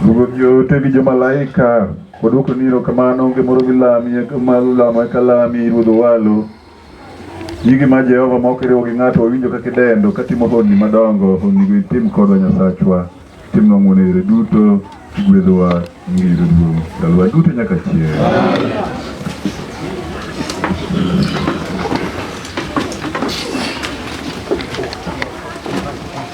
Ruoth joote gi jomalaika waduoko ni erokamano onge moro milami malo lamo eka lami Ruoth Owalo. Nyingi ma Jehova ma ok iriwo gi ng'ato wawinjo kaka idendo katimo honni madongo honnigo itim kodwa Nyasachwa timnwa ng'wono e yore duto igwedhowa nyingi yudo duong' ndalowa duto nyaka chieng'.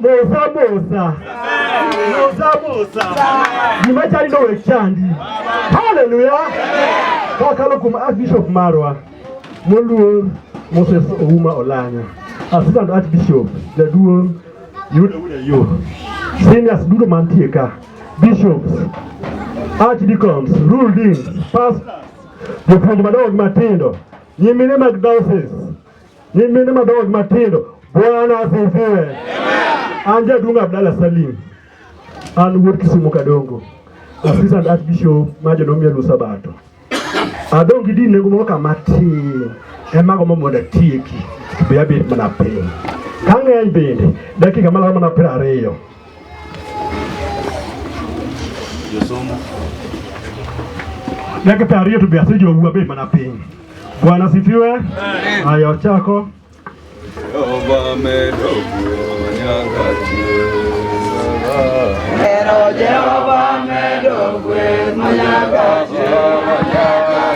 Musabusa. Musabusa. Nimachali no wechandi. Hallelujah. Kakalo kum Archbishop Marwa. Moluor Moses Ouma Olanya. Assistant Archbishop. Jaduong' yudo yudo yo. Seniors duto mantie ka. Bishops. Archdeacons. Rule deans. Pastors. Jopuonj madongo gi matindo. Nyimine mag diocese. Nyimine madongo matindo, Bwana asifiwe. An jaduong' Abdalla Salim, an wuod Kisumu Kadongo, Assistant Archbishop ma jodong Yalu Sabato. Adong' gi din nengo moro ka matin, ema gombo mondo atieki, be abet mana piny. Ka ng'eny bende, dakika malaro mana piero ariyo. Dakika ariyo to be asejowuwa be mana piny. Bwana sifiwe. Haya, ochako. Pero Jehová me lo fue, mañana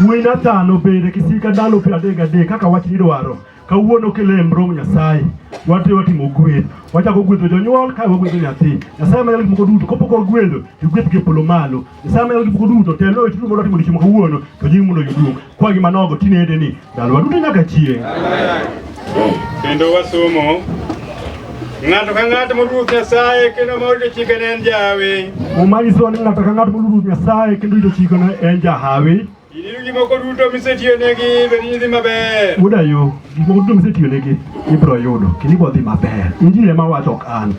Wuoyi Nathan obed e kisika ndalo piero adek gadek kaka wach nidwaro. Kawuono kele e mrong Nyasaye. Wati watimo gweth. Wachako gwedho jonyuol kae wagwedho nyathi. Nyasaye manyalo gik moko duto kapok wagwedho to gweth gi polo malo. Nyasaye manyalo gik moko duto telo e chudo mondo watimo odiechieng' ma kawuono to nyingi mondo oyud duong'. Kwa gima nogo tinede ni Ndalowa duto nyaka chieng'. Kendo wasomo ng'ato ka ng'ato moluwo Nyasaye kendo ma orito chikene en jahawi. Muma nyisowa ni ng'ato ka ng'ato moluwo Nyasaye kendo orito chikene en jahawi. Iniru gik moko duto misetiyonegi bed ni dhi maber. Wuoda yo, gik moko duto misetiyonegi ibiro yudo kendo ibiro dhi maber. Injili ema wacho ok an.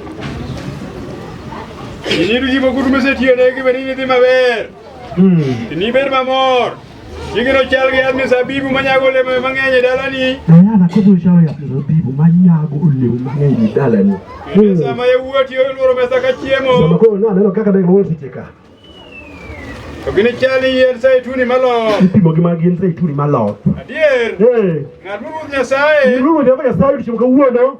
Iniru gik moko duto misetiyonegi bed ni dhi maber. Inibed mamor. Jingino chal gi yath mizabibu manyago olemo mang'eny e dalani. Ayana kodhi chal gi yath mizabibu manyago olemo mang'eny e dalani. Kendo sama yawuoti olworo mesa ka chiemo. Sama koro ne aneno kaka ne giluoro seche ka. To ginichal gi yiend zeituni maloth. Ipimo gi mag yiend zeituni maloth. Adier. Ng'at ma Ruoth Nyasaye. Ruoth Nyasaye odiechieng' kawuono.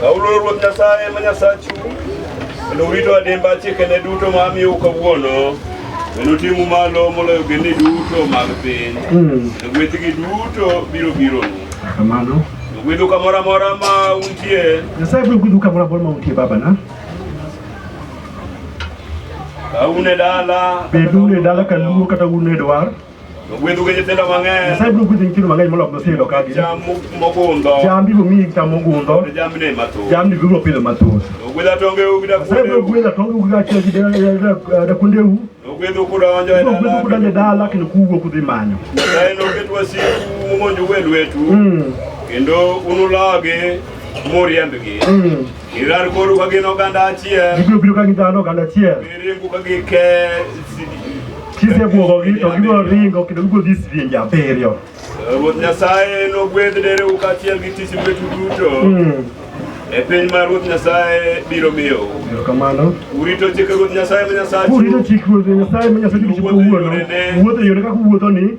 Kawuono Ruoth Nyasaye ma Nyasachu kendo urito adimba chikene duto ma amiyou kawuono kendo timu malo moloyo gini duto mag piny hmm. gwethgi duto biro bironu kamano gwedhu kamoro amora ma untie nyasaye biro gwedhu kamoro amora ma untie babana ka un e dala bedu un e dala ka luo kata un e dwar Ogwedhu gi nyithindo mang'eny. Nyasaye biro gwedho nyithindo mang'eny moloyo ma oseyudo ka gin. Cham mogundho. Cham biro miyi cham mogundho. Kod jamni mathoth. Jamni biro pidho mathoth. Ogwedh atongeu gi dakuondeu. Nyasaye biro gwedho atongeu gi kaachiel gi dakuondeu. Ogwedhu kudonjo e dala. Ogwedhu kudonjo e dala kendo kuwuok udhi manyo. Nyasaye noket wasiku momonjou e lwetu. Mm. Kendo unulagi muriembgi. Mm. Irar koru ka gin oganda achiel. Gibiro biro ka gin dhano oganda achiel. Giringo ka gike kisebwogogi to gibiro ringo kendo gibiro dhi sidienje abiriyo. Ruoth Nyasaye nogwedh dereu kaachiel gi tich lwetu duto. Hmm. E piny ma Ruoth Nyasaye biro miyo. Kamano. Urito chik Ruoth Nyasaye ma Nyasachu. Urito chik Ruoth Nyasaye ma Nyasachu. Wuotho e yore kaka wuotho ni.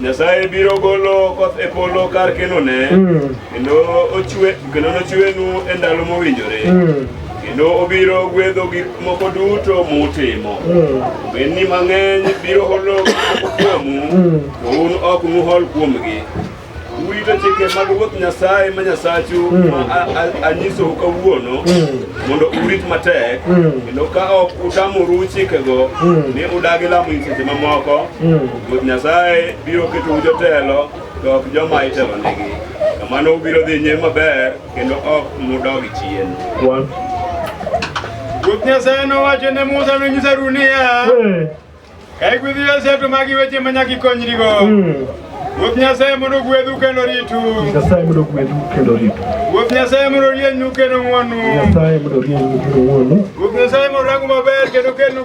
Nyasaye biro golo koth e polo kar kenone mm. kendo ochwe kendo nochwenu e ndalo mowinjore mm. kendo obiro gwedho gik moko duto mutimo mm. bedni mang'eny biro holo kuomu to un ok nuhol kuomgi urito chike mag ruoth nyasaye ma nyasachu anyisou kawuono mondo urit matek kendo ka ok utamoru chikego ni udagi lamo nyiseche mamoko Ruoth Nyasaye biro ketou jotelo, to ok joma itelonegi. Kamano ubiro dhi nyime maber, kendo ok nudog chien. One. Ruoth Nyasaye nowacho ne Musa nonyis Harun niya, Hey. Ka igwedho Josef to magi weche ma nyaka ikonyrigo. Mm. Ruoth Nyasaye mondo ogwedhu kendo ritu. Nyasaye mondo ogwedhu kendo ritu. Ruoth Nyasaye mondo orienyu kendo ng'wonu. Nyasaye mondo orienyu kendo ng'wonu. Ruoth Nyasaye mondo orangu maber kendo kelnu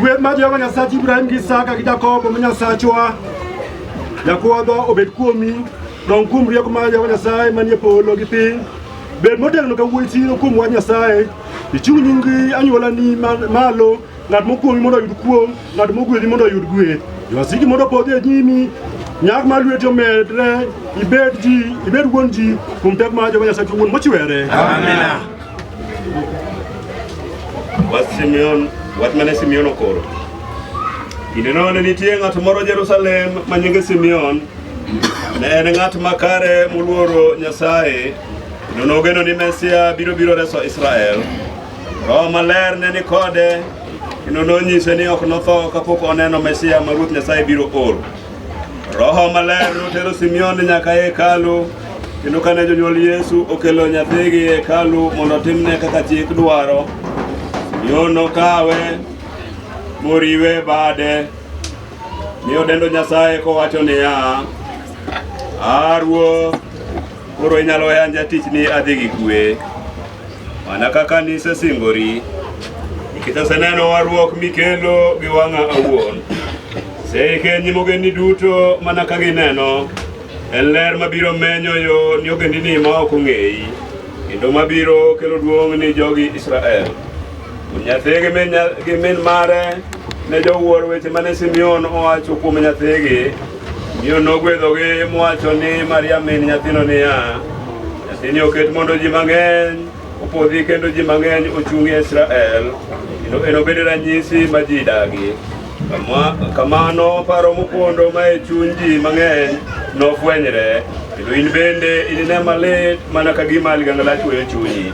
Gweth mar Jehova Nyasach Ibrahim gi Isaka gi Jakobo ma Nyasachwa Jakwadha obed kuomi, dong kuom rieko mar Jehova Nyasaye manie polo gi piny. Bed motegno ka wuoyi siro kuom wach Nyasaye, ichung' nyingi anywolani ma- malo, ng'at mokuong'i mondo oyud kuong', ng'at mogwedhi mondo oyud gweth. Jowasiki mondo opodhi e nyimi, nyak mar lweti omedre, ibed ji, ibed wuon ji kuom teko mar Jehova Nyasaye wuon mochwere. Amina. Wach Simeon, wach mane Simeon okoro. Kindeno ne nitie ng'at moro Jerusalem ma nyinge Simeon. Ne en ng'at makare moluoro Nyasaye, kendo nogeno ni Mesia biro biro reso Israel. Roho maler ne ni kode, kendo nonyise ni ok notho kapok oneno Mesia ma Ruoth Nyasaye biro oro. Roho maler notero Simeon nyaka e hekalu kendo kane jonyuol Yesu okelo nyathigi e hekalu mondo otimne kaka chik dwaro, Simeon nokawe moriwe bade mi odendo Nyasaye kowacho niya, A Ruoth, Koro inyalo yan jatich ni adhi gi kwe mana kaka nisesingori nikech aseneno warruok mikelo gi wang'a awuon seikenyi mogendi duto mana ka gineno en ler mabiro menyo yo ni ogendini ma ok ong'eyi kendo mabiro kelo duong' ni jogi Israel nyathi gi min mare ne jowuor weche mane Simeon owacho kuom nyathigi Miyo nogwedhogi mowacho ni Maria min nyathino niya, nyathini oket mondo ji mang'eny opodhi kendo ji mang'eny ochungi e Israel, kendo enobed ranyisi ma ji dagi. Kamano paro mopondo ma e chuny ji mang'eny nofwenyre, kendo in bende inine malit mana ka gima ligangla chwoyo chunyi.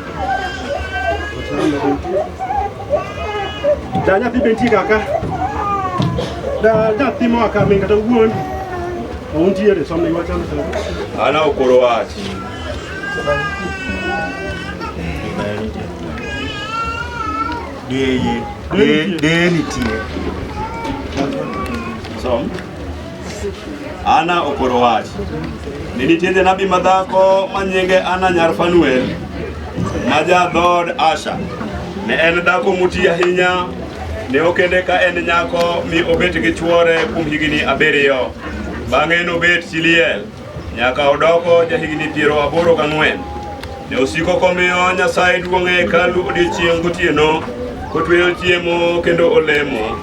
Da nyathi be nitie kaka. Da nyathi moa ka min kata wuon. Untiere somne iwacho ni sasa. Ana okoro wach. Deye, deye, deye nitie. Som. Ana okoro wach ni nitie janabi madhako ma nyinge Ana nyar Fanuel ma ja dhood Asha. Ne en dhako muti ahinya, ne okende ka en nyako mi obet gi chwore kuom higni abiriyo. Bang'e nobet chi liel. Nyaka odoko jahigni piero aboro gang'wen, ne osiko komiyo Nyasaye duong' e hekalu odiechieng' gotieno, kotweyo chiemo kendo olemo.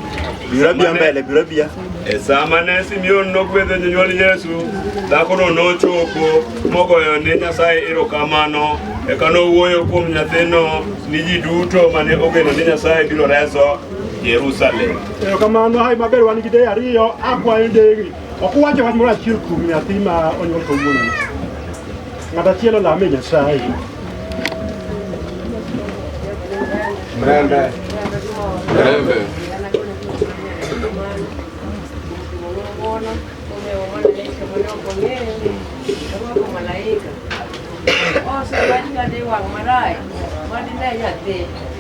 Biro bia mbele, biro bia. E sama ne Simeon nogwedho jonyuol Yesu, dhakono nochopo mogoyo ne Nyasaye erokamano, eka nowuoyo kuom nyathino ni ji duto mane ogeno ni Nyasaye biro reso Jerusalem. Erokamano, hayi maber wan gi deye ariyo, akwayo ndege. Ok uwache wach moro achiel kuom nyathi ma onyuol kawuono. Ng'at achiel olame Nyasaye. Mrembe. Mrembe. Oso wach ng'ade wang' marach, wadine nyathi.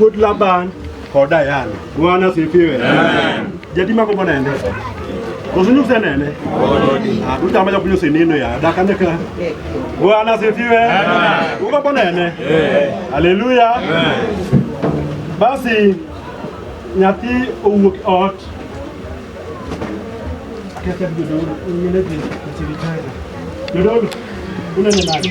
Wuod Laban kod Diana. Bwana asifiwe. Amen. Jadi mako mbona ende? Kusunyu senene. Ah, tuta maja kunyo seneno ya daka neka. Bwana asifiwe. Amen. Uko mbona ende? Eh. Haleluya. Amen. Basi nyathi owuok ot. Kete bidoro, ngene bi chiri chai. Bidoro, unene nani?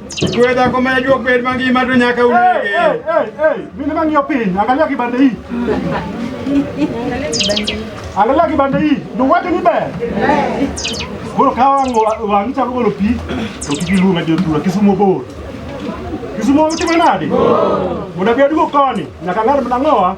Wewe dhako ma jua kweli mangi ma to nyaka unege. Hey, hey, hey, mimi mangi yo piny, angalia kibande hii. Angalia kibande hii, ndio watu ni baya. Bora kawa ngo wangicha ngo lo pi, to kigilu ma jotura kisumo bor. Kisumo uti manade. Bora biadu ko koni, nyaka ngar mnangoa.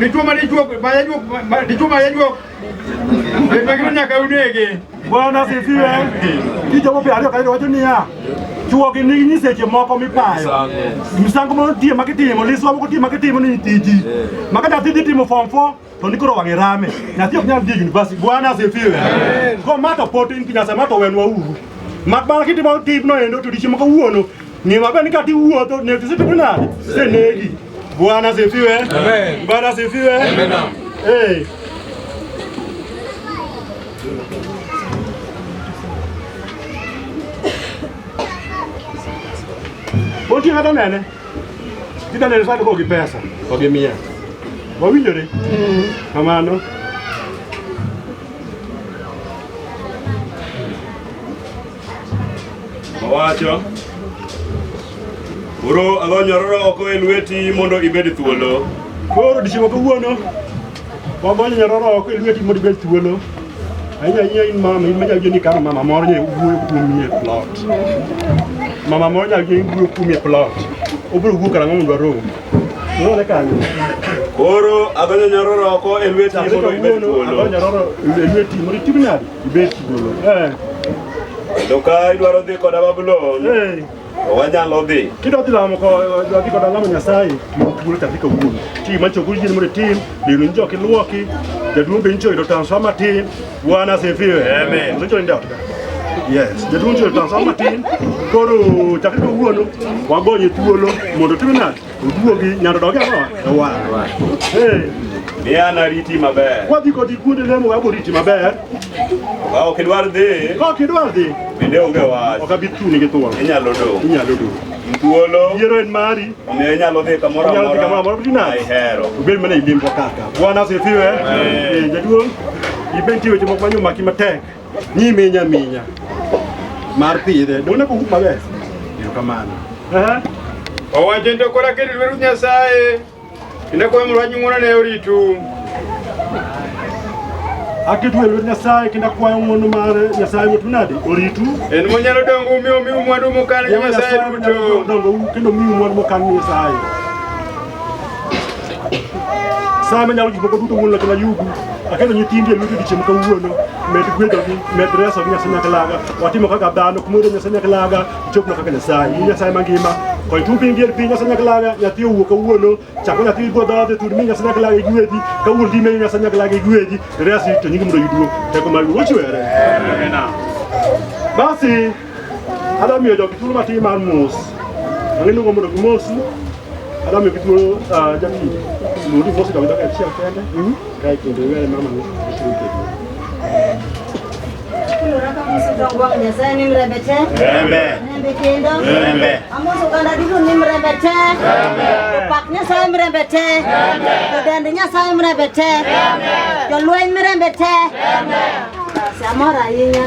dichuo ma dichuo ma jajuok pengine nyaka unege. Bwana asifiwe. Kichopo pia ariyo kairo wacho niya chuo gi nigi nyiseche moko mipayo misango motiye makitimo liswa mokotimo makitimo ni tiji makadathi dhi timo form 4 to nikoro wang'e rame nyathi ok nyal dhi university bwana asifiwe ko mato pot in kinyasa mato wenwa uru mak bana kitimo tijno endo to dichiemo kawuono ng'e maber ni kati wuotho ne tisetimo nade senegi bwana asifiwe bwana asifiwe eh Bom dia, Radamé, né? Kida ne sadu kogi pesa, kogi mia. Wawinjore? Mm. Kamano. Owacho. Uro alonyororo oko e lweti mondo ibed thuolo. Koro dichiwo kawuono. Wagonyo nyaroro oko e lweti mondo ibed thuolo. Ahinya ahinya in mama, in manyalo jeni kama mama moro nyalo wuoyo kuomi e plot. Mama moro nyalo jeni wuoyo kuomi e plot. Obiro wuok karang'o mondo warom. Unaona kanyo? Koro agonyo nyaroro oko e lweti Kendo mondo ibed kawuono thuolo. agonyo nyaroro e lweti mondo itim nadi? Ibed thuolo. Eh, Kendo ka idwaro dhi koda Babulon, eh. wanyalo dhi kidwa dhi lamo dhi koda lamo nyasaye thuolo chak iko wuon ti ma chokuru jini mondo itim lero ni joki lwoki jaduong' be nicho yudo transfer matin bwana asifiwe osecho ni daotka yes jaduong' nicho yudo transfer matin koro chak iko wuono wagonye thuolo mondo otim nade Uduogi nyalo dogi ang'o? Ewa. Eh. Ni an ariti maber. Wadhi kodi kuonde lemo wa boriti maber. Ka ok idwar dhi. Ka ok idwar dhi. Bende onge wach. Ok abi chuni gi thuon. Inyalo do. Inyalo do. Thuolo. Yiero en mari. Omiyo inyalo dhi kamoro amora. Inyalo dhi kamoro amora bina. Ai hero. Ubed mana ilimbo kaka. Bwana asifiwe. Eh, jaduong'. Ibed tiyo weche moko manyo maki matek. Ni minya minya. Mar pidhe. Dona ko kuma be. Yo kamano. Aha. Owacho ndo kola kiri lweru Nyasaye. Inde kwa mwa nyungona ne oritu. Akitu lweru Nyasaye kinda kwa ng'ono mare Nyasaye wetu nadi oritu. En monyalo dongo umi umi mwandu mokane Nyasaye duto. Dongo kendo mi mwandu mokane Nyasaye. Sama nyalo gik moko duto wuon loch na yugu. Aketo nyithindi e lweti odiechieng' kawuono. Med gwedhogi, med reso gi Nyasaye nyaklaga. Watimo kaka dhano, kumoro Nyasaye nyaklaga, ichopna kaka Nyasaye. In Nyasaye mangima, kony tung' piny dier piny Nyasaye nyaklaga, nyathi owuok kawuono, chako nyathi ibwo dhoodhe, tur mi Nyasaye nyaklaga igwedhi, ka wuon dhi meyo Nyasaye nyaklaga igwedhi, resi to nyingi mondo oyudwo. Teko mar Wuoro chwere. Basi Adwa miyo jogi thuolo matin mar mos. Ang'e luongo mondo gimosi. Adwa miyo githuolo ah, jati. Luongi mosi to gidok achiel kende. Kae kendo iwere mama ni. Kulora ka Musa dongo wa Nyasaye ni mrembe te. Mrembe kendo. Amos oganda duto ni mrembe te. Jopak Nyasaye mrembe te. Jodend Nyasaye mrembe te. Jolweny mrembe te. Basi amor ahinya.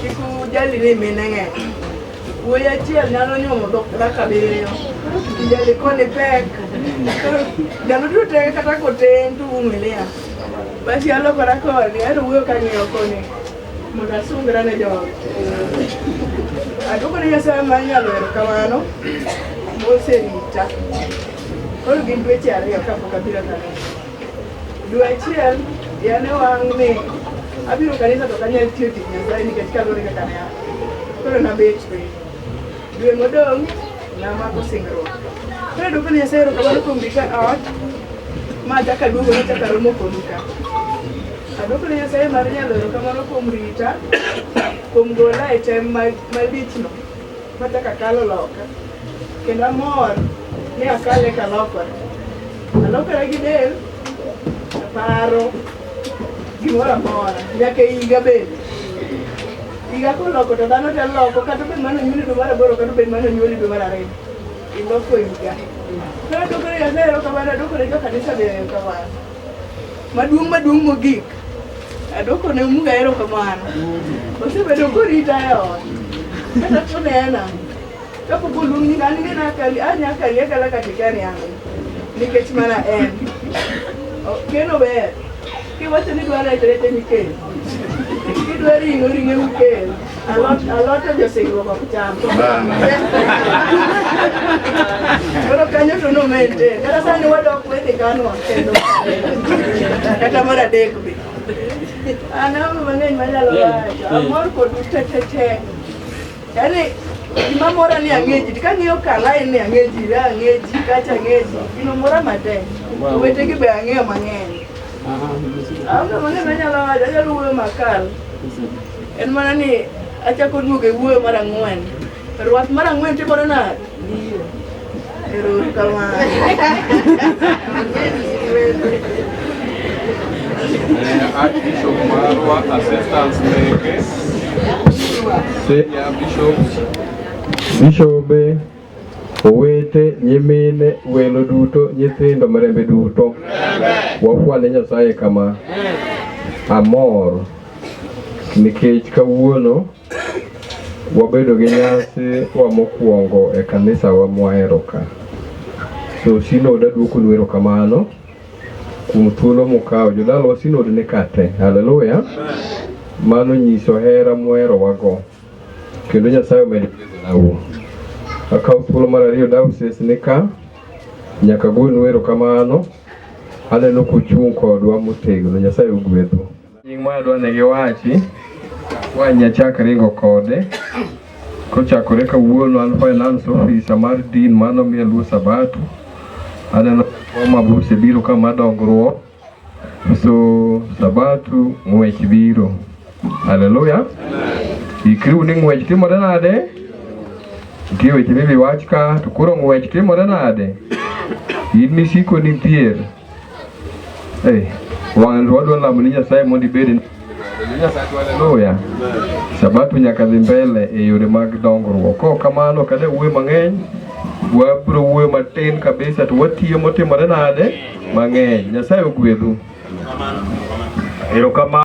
Kik ujali ni mine ng'eny. Wuoyi achiel nyalo nyuomo dhok kaka abiriyo. Ijali koni pek. Ndalo duto te kata koten to umilia. Basi alokora koni, aero wuoyo kang'iyo koni mondo asungra ne jogo. Aduoko ne Nyasaye ma nyalo hero kamano moserita. Koro gin dweche ariyo kapok abiro kanisa. Dwe achiel yane wang' ni abiro kanisa to kanyal tiyo tich Nyasaye nikech kaluwore kaka ne koro nabet piny. Dwe modong' namako singruok. Koro duoko ne Nyasaye erokamano kuom gika ot ma achako aduogo nachako aromo kodu ka. Aduoko ne Nyasaye mar nyalo erokamano kuom rita, kuom gola e tem ma- malichno. Machako akalo loka kendo amor ni akale kalokore. Alokora gi del, aparo gimoro amora nyaka e higa bende. Higa koloko to dhano te loko kata obed mane onyuoli dwe mar aboro kata obed mane onyuoli dwe mar ariyo. Iloko higa. Koro adwokone Nyasaye erokamano, adwokone jo kanisa be erokamano. Maduong' maduong' mogik, adwoko ne Mungu erokamano. Osebedo korita e ot. Kata kunena, kapok oluong ni an ng'ena kari, an nya kari akala kata ikani ang'o. Nikech mana en. O- Keno ber. Kiwacho ni dwaro rech, rech emikel. Kidwa ring'o, ring'o emikel. Alot alot josingruok ok cham. Koro kanyo to no maintain. Kata sani wadok wethi kanwa kendo. Kata mar adek be. An aonge mang'eny manyalo wacho. Amor kodu te te te. Yaani gima mora ni ang'e ji. Kang'iyo kalae ni ang'e ji, ra ang'e ji, kacha ang'e ji. Gino mora matek. Owetegi be ang'eyo mang'eny. Aonge mang'eny manyalo wacho. Anyalo wuoyo makal. En mana ni achako duogo e wuoyo mar ang'wen. Rwath mar ang'wen timore nade? Biro. Erokamano. Eh, Archbishop marwa assistance meke. Yeah, Bishop. Bishobe Owete, nyimine, welo duto, nyithindo, marembe duto, wafwane Nyasaye kama. Amor nikech kawuono wabedo gi nyasi wa mokwongo e kanisa wa mwahero ka. So sinod aduoko nu erokamano kuom thuolo mukawo. Jodalwa sinod ni ka te. Haleluya! Mano nyiso hera muherowago. Kendo Nyasaye omedo nawo. Akawo thuolo mar ariyo dawses ni ka nyaka gwen wero kamano aneno kuchung' kodwa motegno Nyasaye ogwedhu. Nying ma adwa ne giwachi wanya chak ringo kode kochakore kawuono an finance officer mar din mano miye luo sabato aneno mabuse biro kama dongruok so sabato ng'wech biro haleluya ikriu ni ng'wech timore nade nitie weche mibi wach ka to koro ng'wech timore nade in misiko nitier hey, wan wadwa lamo ni nyasaye mondo ibed Haleluya. Sabato nyaka dhi mbele e yore mag dongruok. Ko kamano kade wuoyo mang'eny, wabro wuoyo matin kabisa to watiyo motimore nade mang'eny. Nyasaye ogwedhu. Erokamano.